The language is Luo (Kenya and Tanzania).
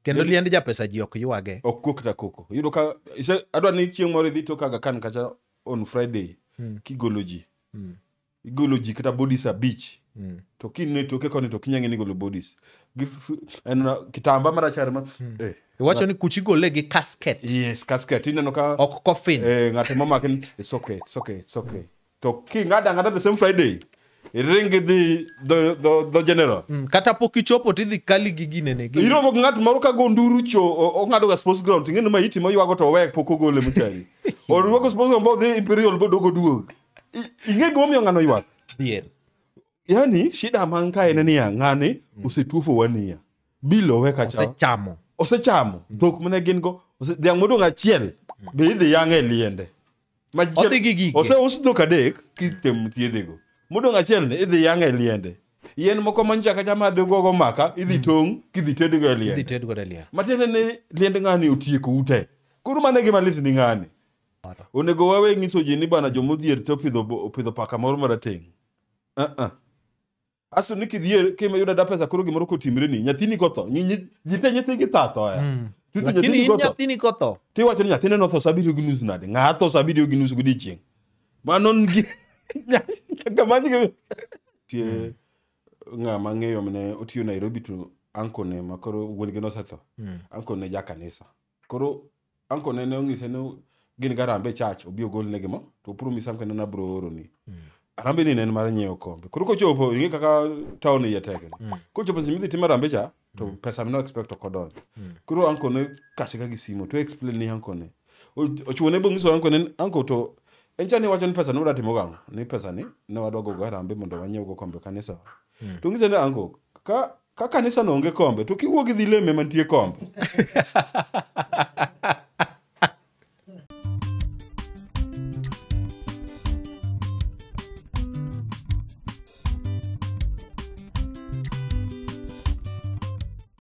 kendo liend japesa ji ok ywage ok kuo kata koko yudo ka ise- adwa ni chieng' moro idhi to kaga kan kacha on friday Mm. kigolo ji Mm. igolo ji kata bodies abich Mm. to kine toke koni to kinyang'e ni golo bodies Gi f- en na- kitamba marachar ma eh, iwacho ni kuchi gole gi casket yes casket ineno ka ok coffin eh, ng'ato momake ni it's okay it's okay it's okay to king'ado ang'ada the same friday iring idhi dho- dho dho general Mm, kata pok ichopo tidhi kali gi ginene gi- iromo gi ng'at moro ka go nduru cho o- ong'adoga sports ground ting'eni ma iti moywago to owek pok ogole mchari orwago sports ground bodhi imperial bodogo duog I- ing'e gimomiyo ng'ano ywak Dhier. yani shida man ka en niya ng'ani osetuofo wania bilo oweka cha osechamo osechamo dhok mane gin go ose- dhiang' modong' achiel be idhi yang'e e liende Machiel- Odhi gi gige. oseus dhok adek kitem thiedhego modong' achiel ni idhi yang'e e liende yien moko manchaka chama digogo maka idhi tong' kidhi tedgo e Idhi liende ted godo e liel. matiende ni liend ng'ani otieko ute koro mano e gima lit ni ng'ani onego wawe ng'iso ji ni bana jomodhier to opidho bo- opidho paka moro marateng' uh-uh. asto ni kidhier kima yudo da pesa koro gimoro kotimre ni nyathini kotho Nyi- nyi- ji te nyithigi tha thoya Mm. Tutu lakini nyathini in kotho nyathini kotho tiwacho ni nyathine notho sa abiriyo gi nus nade ng'a tho sa abiriyo gi nus godiechieng' mano ngi- kamanygi- tie ng'a mang'eyo mane otiyo nairobi to ankone ma koro wuon-gi nosetho ankone ja kanisa koro anko ne ne ong'ise ni gin ga rambe chach obi ogol ne gimo to opro mi samke nana bro oro ni mm. rambe ni ne mar nyiewo kombe koro kochopo inge kaka town ye tege mm. kochopo simi dhi timo rambe cha to mm. pesa mino expect to kodon mm. koro anko ne kasi ka gisimo to explain ni anko ne ochuo ne bong'iso anko ne anko to en cha ni wacho ni pesa ne wadwa timo gang'o ni pesa ni ne wadwa gogo harambe mondo wanyiew go kombe kanisa mm. to ng'ise ni anko ka Ka kanisa no onge kombe to kiwuok idhi leme mantie kombe.